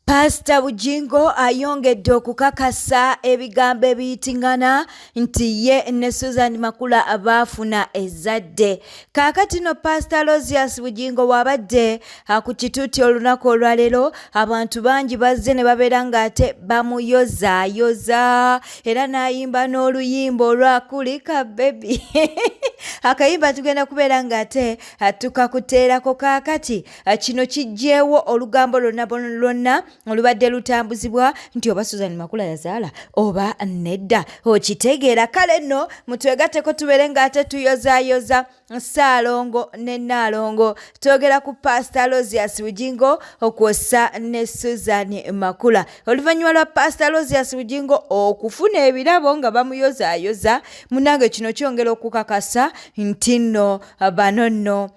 Paasita Bugingo ayongedde okukakasa ebigambo ebiyitingana nti ye ne Susan Makula baafuna ezzadde. Kaakati no Paasita Lozius Bugingo bw'abadde ku kituuti olunaku olwaleero, abantu bangi bazze ne babeera ng'ate bamuyozaayoza era n'ayimba n'oluyimba olwa kulika bebi. Akayimba tugenda kubeera ng'ate tukakuteerako kaakati. Eh, kino kiggyewo olugambo lwonna lwonna olubadde lutambuzibwa nti oba susan makula yazaala oba nedda okitegeera kale nno mutwegateko tubeere ng'ate tuyozayoza ssaalongo ne nnaalongo twogera ku paasita losias bugingo okwosa ne susan makula oluvannyuma lwa paasita losias bugingo okufuna ebirabo nga bamuyozayoza munange kino kyongera okukakasa nti nno bano nno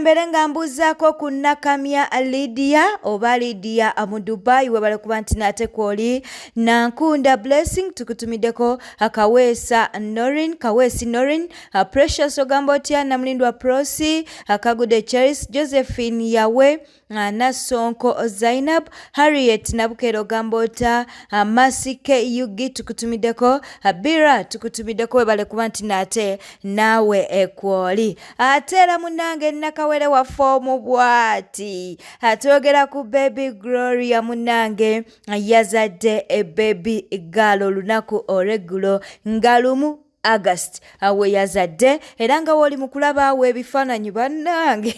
mbeere nga mbuuzaako ku nakamya lidiya oba lidiya mu dubai webale kuba nti naate kwoli nankunda blessing tukutumiddeko Kaweesa Norin, Kaweesi Norin, Precious ogamba otya Namulindwa Prosi, Kagude Charles, Josephine Yawe, Nassonko Zainab, Harriet Nabukera ogamba otya Masike Yugi tukutumiddeko, Bira tukutumiddeko webale kuba nti nate naawe ekwoli. Ate era munange nakawere waffe omu bwati atwogera ku Baby Gloria munange yazadde ebebi gaalo olunaku olweggulo nga lumu august awe yazadde era nga wooli mu kulaba awo ebifaananyi bannange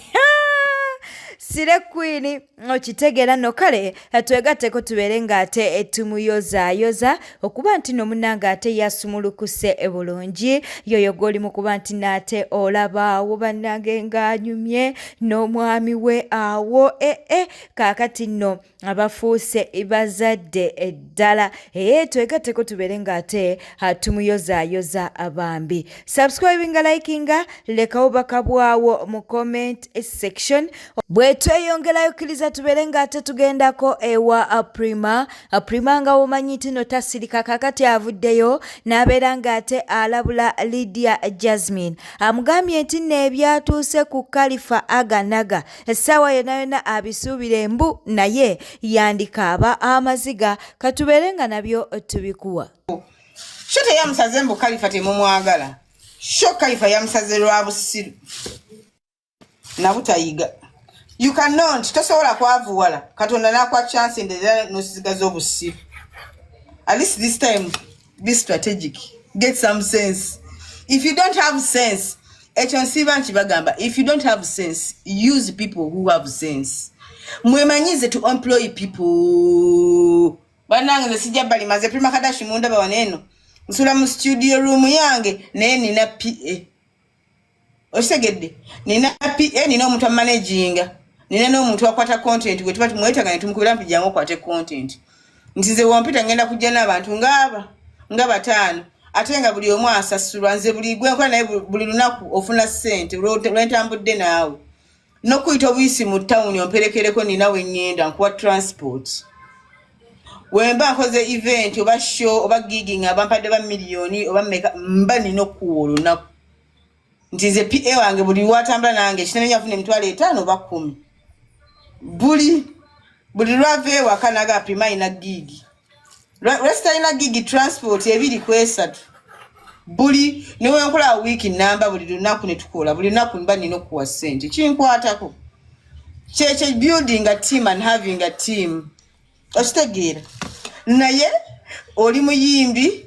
sire kwini okitegeera no kale twegatteko tubeere ng'ate tumuyozaayoza okuba nti no munange ate yasumulukuse bulungi yoyo gw'oli mu kuba nti naate olabaawo bannange ng'anyumye n'omwami we awo ee eh, eh, kaakati nno abafuuse bazadde eddala ee twegatteko tubeere ng'ate tumuyozaayoza abambi subscribinga likinga lekawo bakabwawo mu comment section bwe tweyongerayo kkiriza tubeere nga ate tugendako ewa aprima aprima nga womanyi nti no tasirika kakati avuddeyo n'abeera nga ate alabula lydia jasmine amugambye nti nno ebyatuuse ku kalifa aganaga essaawa yonna yonna abisuubire mbu naye yandikaaba amaziga katubeere nga nabyo tubikuwa sho teyamusaze mbu kalifa temumwagala sho kalifa yamusaze lwa busiru nabutayiga you cannot tosobola kwavuwala katonda nakwa chance nderera nosizigaza obusiru at least this time be strategic get some sense if you don't have sense ekyo nsiiba nti bagamba if you don't have sense use people who have sense mwemanyize to employ people banange nze sijja bali maze prima kadashi mundaba waneeno nsula mu studio room yange naye nina pa okitegedde nina pa eh, nina omuntu amanaginga nina n'omuntu akwata content gwe tuba tumwetaga ne tumukubira nti jangu okwate content nti ze wompita ngenda kujja n'abantu ngaaba nga bataano ate nga buli omu asasulwa nze buli gwenkola naye buli lunaku ofuna ssente lwentambudde naawe nokuyita obuyisi mu tawuni omperekereko nina weŋŋenda nkuwa transport wemba nkoze event oba show oba giging abampadde ba miliyoni oba meka mba nina okukuwa olunaku nti nze pa wange buli watambula nange kinemenya afuna emitwalo etaano oba kumi buli buli lwava ewaka naga apima ina gigi lwesitalina gigi transport ebiri kwesatu buli newenkola wiiki namba buli lunaku netukola buli lunaku mba nina okuwa sente kinkwatako kyekyo building a team and having a team okitegeera naye oli muyimbi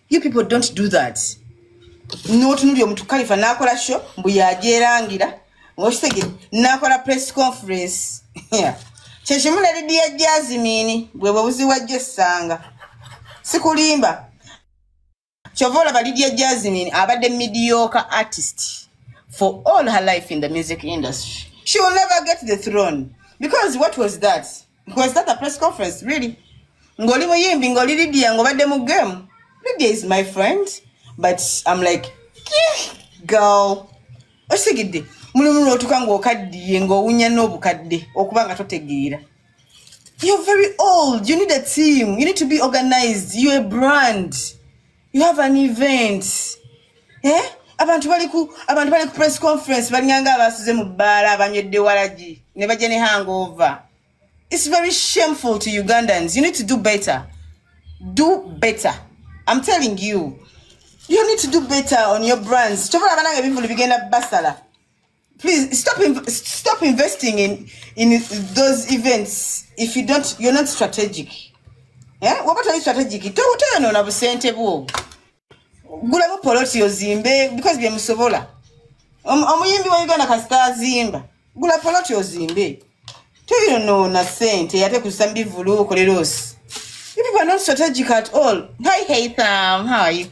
you people don't do that notunulya omuntu kalifa nakola sho mbu yajerangira ngokitege nakola press conference kyekimu ne lidiya jazimini bwebwe buziwajjo essanga sikulimba kyova olaba lidiya jazimini abadde mediocre artist for all her life in the music industry she will never get the throne because what was that Was that a press conference really? Ngoli muyimbi ngoli Lydia ngobadde mu game. Lydia is my friend but I'm like girl osigidde mulimu lwotuka ng'okaddiye ng'owunya n'obukadde okuba nga totegeera you're very old you need a team you need to be organized you're a brand you have an event eh? abantu bali ku abantu bali ku press conference balinganga abasuze mu bbaala abanywedde walagi ne bajja ne hangover it's very shameful to ugandans you need to do better do better i'm telling you you need to do better on your brands kyovola abananga ebivulu bigenda basala please stop inv- stop investing in in those events if you don't you're not strategic eh waba tali strategic to utayano na busente bwo gula bo poloti ozimbe because bye musobola omuyimbi wa Uganda kasita azimba gula poloti ozimbe toyonoona sente ate kusa mbivulu okolera osi people are not strategic at all hi haitham how are you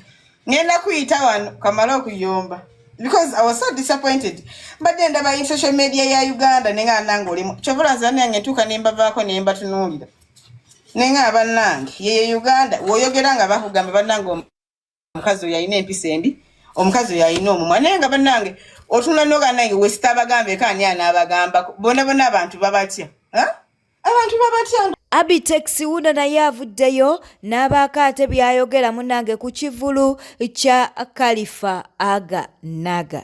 ngenda kuyita wano kamala okuyomba because i was so disappointed mbadde ndaba in social media ya uganda nenga nange olimu kyovola nze banange ntuuka nembavaako nembatunuulira nenga abanange yeye uganda woyogera nga bakugamba banange omukazi oyo alina empisa embi omukazi oyo alina omumwa naye nga banange otunula noganange wesita abagambe kaani anaabagamba bona bona abantu babatya abantu babatya Abitex wuno naye avuddeyo n'abaako ate by'ayogera munange ku kivulu kya Khalifa Aga Naga.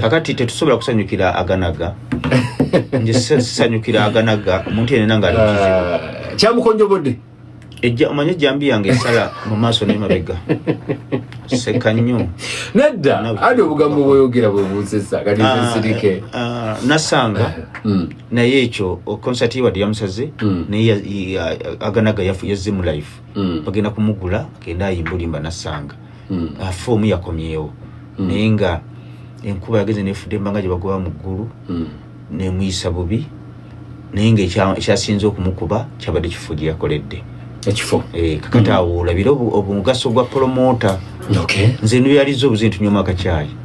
kakati tetusobola kusanyukira aganaga nje sanyukira aganaga omuntu yenena nga alikizibu ah, kyamukonjobodde ejja omanyi ejjambi yange esala mu maaso nemabega seka nnyo nedda ali obugambo bwoyogera bwebunzisa kati ah, nsirike ah, nasanga hmm. naye ekyo konsati wadde yamusaze hmm. naye aganaga yazze mu life hmm. bagenda kumugula agenda ayimbulimba nasanga hmm. afa omu yakomyewo hmm. naye nga enkuba yageze nefudde embanga gye bagoba mu ggulu hmm. nemuyisa bubi naye nga ekyasinze okumukuba kyabadde kifo gye yakoledde ekifo eh, kakati awo olabire omugaso gwa polomota nze nuyaliza obuzintunywa mu akakyayi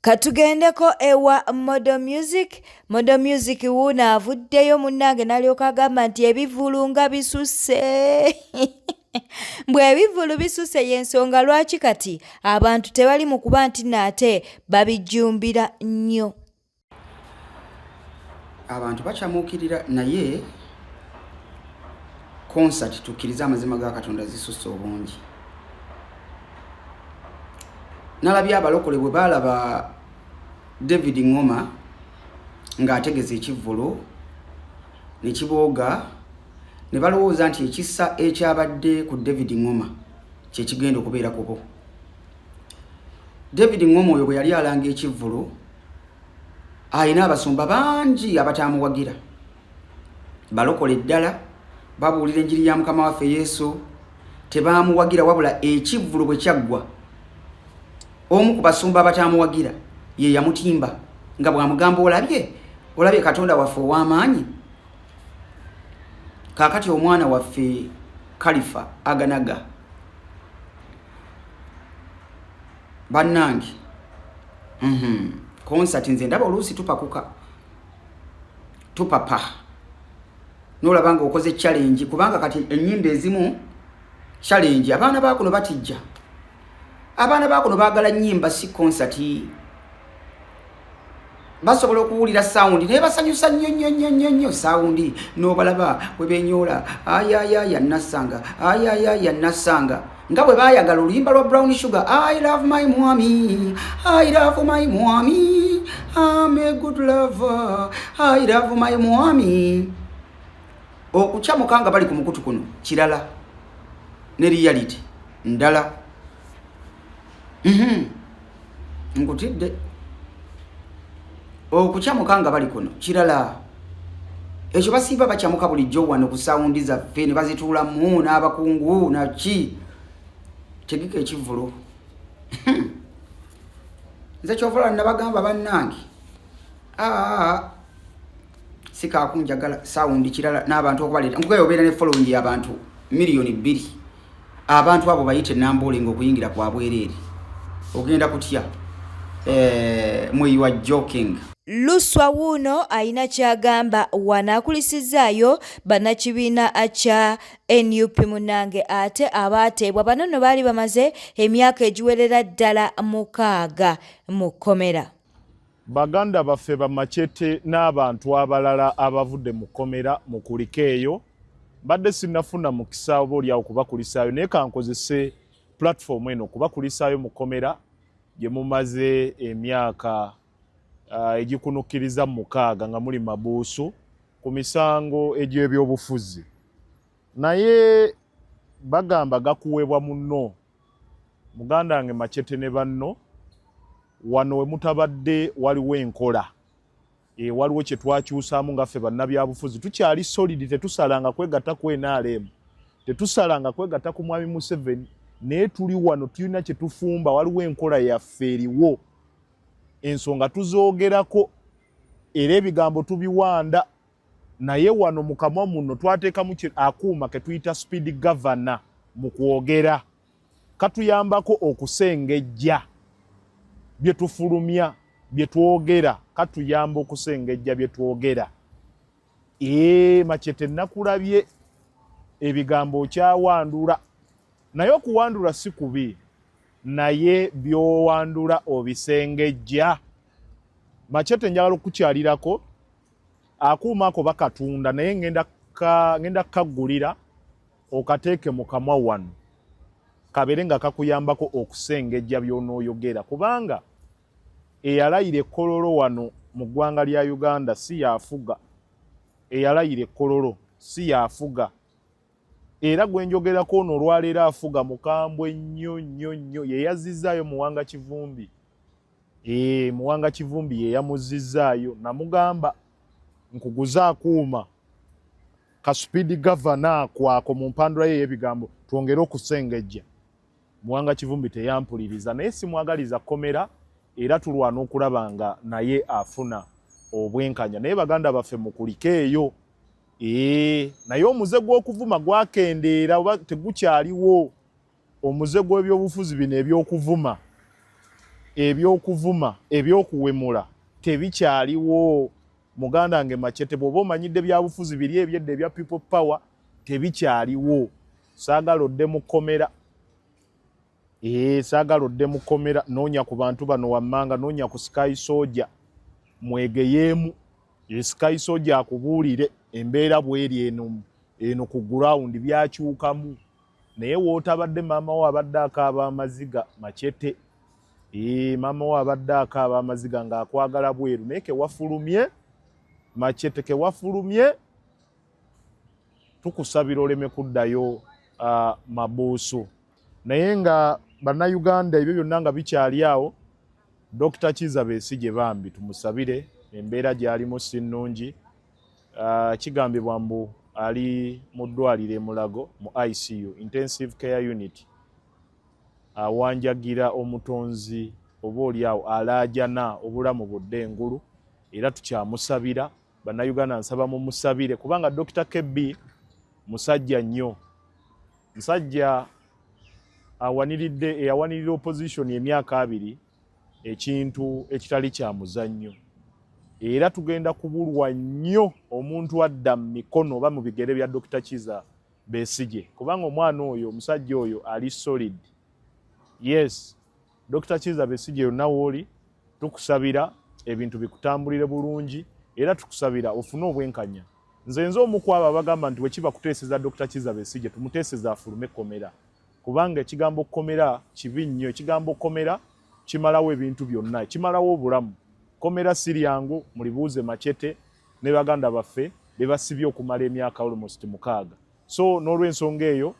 katugendeko ewa modo music modo music wuuno avuddeyo munnange nalyoka agamba nti ebivulu nga bisusse bw'ebivvulu bisuse y'ensonga lwaki kati abantu tebali mu kuba nti naate babijjumbira nnyo abantu bakyamuukirira naye concert tukkirize amazima ga katonda zisusse obungi nalabye abalokole bwe baalaba david ngoma ng'ategeza ekivvulu ne kibooga ne balowooza nti ekisa ekyabadde ku david ngoma kye kigenda okubeera kubo david ngoma oyo bwe yali alanga ekivvulu alina abasumba bangi abataamuwagira balokola eddala babuulira enjiri ya mukama waffe yesu tebaamuwagira wabula ekivvulu bwe kyaggwa omu ku basumba abataamuwagira ye yamutimba nga bwamugamba olabye olabye katonda waffe ow'amaanyi kaakati omwana waffe kalifa aganaga bannange mhm. konsati nze ndaba oluusi tupakuka tupapa nolaba nga okoze challenge kubanga kati enyimba ezimu challenge abaana bakuno batijja abaana bakuno bagala nyimba si konsati basobola okuwulira sawundi naye basanyusa nnyo nnyo nnyo nnyo nnyo sawundi n'obalaba bwe benyoola ayayaya nassanga ayayaya nassanga nga bwe baayagala oluyimba lwa brown sugar i love my mwami i love my mwami am a good lover i love my mwami okucamuka nga bali ku mukutu kuno kirala ne reality ndala mm -hmm. nkutidde okukyamuka nga bali kuno kirala ekyo basiiba bakyamuka bulijjo wano ku sawundi zaffe ne bazituulamu n'abakungu naki tegeka ekivulu nze kyovola nabagamba bannange sikakunjagala sawundi kirala n'abantu okubaleeta nkugayobeera ne following y'abantu miliyoni bbiri abantu abo bayite nambuule nga okuyingira kwa bwereere ogenda kutya eh, mweyiwa joking luswa wuuno alina kyagamba wanaakulisizaayo bannakibiina kya nup munange ate abaateebwa bano no baali bamaze emyaka egiwerera ddala mukaaga mu kkomera Baganda baffe ba Machete n'abantu abalala abavudde mu kkomera mu kulika eyo mbadde sinnafuna mukisa oba olyawo kubakulisaayo naye kankozese pulatifomu eno kubakulisaayo mu kkomera gye mumaze emyaka ah, egikunukkiriza mu mukaaga nga muli mabuusu ku misango egy'ebyobufuzi naye bagamba gakuweebwa munno muganda wange macete ne banno wano we mutabadde waliwo enkola e, waliwo kye twakyusaamu nga ffe bannabyabufuzi tukyali solidi tetusalanga kwegatta ku nrm tetusalanga kwegatta ku mwami museveni naye tuli wano tulina kye tufumba waliwo enkola yaffe eriwo ensonga tuzoogerako era ebigambo tubiwanda naye wano mu kamwa muno twateekamu akuuma ke tuyita speed governor mu kwogera katuyambako okusengejja bye tufulumya bye twogera katuyamba okusengejja bye twogera ee makyete nakulabye ebigambo okyawandula naye okuwandula si kubi naye byowandula obisengejja makyete njagala okukyalirako akuuma ako bakatunda naye ngenda ngenda kukagulira okateeke mu kamwa wano kabeere nga kakuyambako okusengejja by'onooyogera kubanga eyalayira ekkololo wano mu ggwanga lya uganda si yafuga eyalayira ekkololo si yafuga era gwe njogerako ono olwaleero afuga mukambwe nnyo nnyo nnyo yeyazizzaayo muwanga kivumbi Ee, eh, muwanga kivumbi yeyamuzizzaayo namugamba nkuguze akuuma kasupidi gavana kwako mu mpandula ye eyebigambo twongere okusengejja muwanga kivumbi teyampuliriza naye simwagaliza komera era tulwana okulaba nga naye afuna obwenkanya naye baganda baffe mukulikeeyo ee eh, naye omuze gw'okuvuma gwakendeera oba tegukyaliwo omuze gw'ebyobufuzi bino eby'okuvuma eby'okuvuma eby'okuwemula tebikyaliwo muganda nge macete bw'oba omanyidde byabufuzi biri ebyedda ebya people power tebikyaliwo saagala odde mu kkomera ee eh, saagala odde mu kkomera noonya ku bantu bano wammanga noonya ku sky soja mwegeyeemu eh, sky soja akubuulire embeera bweri eno eno ku gurawundi byakyukamu naye wootabadde maama wo abadde akaaba amaziga macete ee maama wo abadde akaaba amaziga ng'akwagala bweru naye kewafulumye macete kewafulumye tukusabira oleme kuddayo uh, mabuusu naye nga bannayuganda ebyo byonna nga bikyali awo dokita kiza besigye bambi tumusabire embeera gyalimu si nnungi Uh, kigambibwa mbu ali mu ddwaliro emulago mu icu intensive care unit awanjagira uh, omutonzi oba oliawo alaajana obulamu budde engulu era tukyamusabira bannayuganda nsaba mumusabire kubanga dokita kb musajja nnyo musajja awaniridde eyawanirira opposition emyaka abiri ekintu ekitali kya muzannyo era tugenda kubulwa nnyo omuntu adda mu mikono oba mu bigere bya dokita kiza besige kubanga omwana oyo omusajja oyo ali solid yes dokita kiza besige yonna wooli tukusabira ebintu bikutambulire bulungi era tukusabira ofune obwenkanya nze nze omukwabo abagamba nti wekiba kuteeseza dokita kiza besige tumuteeseza afulume ekkomera kubanga ekigambo kkomera kibi nnyo ekigambo kkomera kimalawo ebintu byonna kimalawo obulamu kkomera si lyangu mulibuuze macete ne baganda baffe be basibye okumala emyaka almost mukaaga so n'olwensonga eyo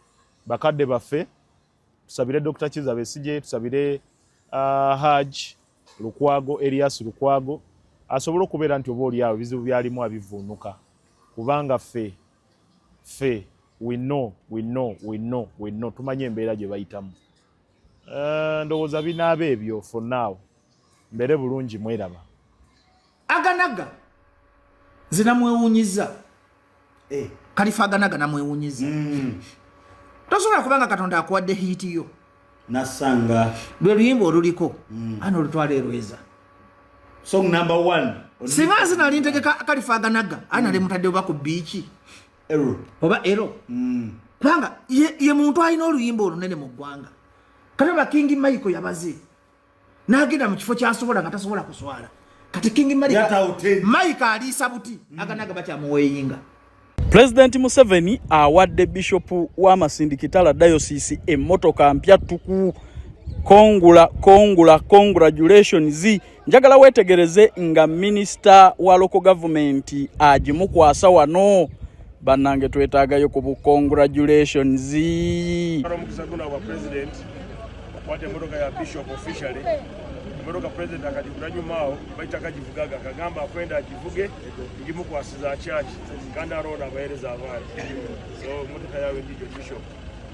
bakadde baffe tusabire dr kiza besigye tusabire uh, haj lukwago elias lukwago asobole okubeera nti oba olyawo ebizibu byalimu abivuunuka kubanga ffe ffe we know we know we know we know tumanyi embeera gye bayitamu eh, ndowooza binaaba ebyo for now mbere bulungi mweraba aganaga zinamwewunyiza eh. kalifa aganaga namwewunyiza mm. tosobola kubanga katonda akuwadde hiiti yo nasanga lwe luyimba oluliko mm. ana olutwala erweza song number one singa nsi nali ntegeka kalifaganaga ani nali mutadde oba ku biiki oba ero mm. kubanga ye muntu alina oluyimba olunene mu ggwanga kati ba kingi michael yabaze nagenda mu kifo kyasobola nga tasobola kuswala kati king mike aliisa buti mm. aganaga bakyamuweyinga pulezidenti museveni awadde bishopu w'amasindi kitala dayosiisi emmotoka mpya ttuku kongula kongula congratulations njagala weetegereze nga minisita wa loko gavumenti agimukwasa wano bannange twetaagayo ku bu congratulations omukisa guno abwa president okwata emotoka ya bishop officially emotoka president akagigula nyumaawo baita kagivugaga kagamba akwenda agivuge ngimukwasiza kyaki kandi aroona abahereza abaana so emotoka yawe ndijo bishop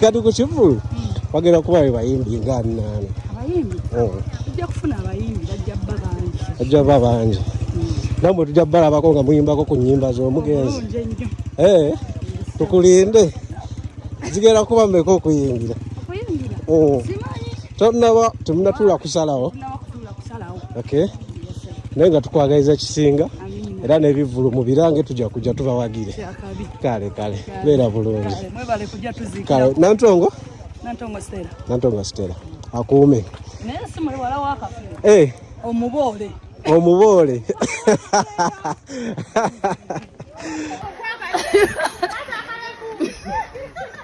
kati ku kivulu bagenda kuba be bayimbi nga annaana abayimbi oh. tujja kufuna abayimbi bajja bba bangi bajja bba bangi hmm. namwe tujja balabako nga muyimbako ku nyimba z'omugenzi eh, tukulinde zigenda kuba meka okuyingira oh. tonaba temunatula kusalawo naye nga tukwagaliza kisinga era n'ebivvulu mu birange tujja kujja tubawagire kale kale beera bulungi kale nantongo nantongo sitera akuume naye si muli wala wakafe eh. omuboole omuboole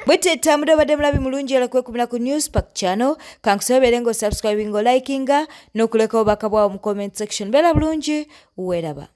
bweteta muda obadde mulabi mulungi era kwekumira ku news park channel kankusobere nga osubscribinga olikinga n'okulekawo bakabwawo mu comment section beera bulungi weeraba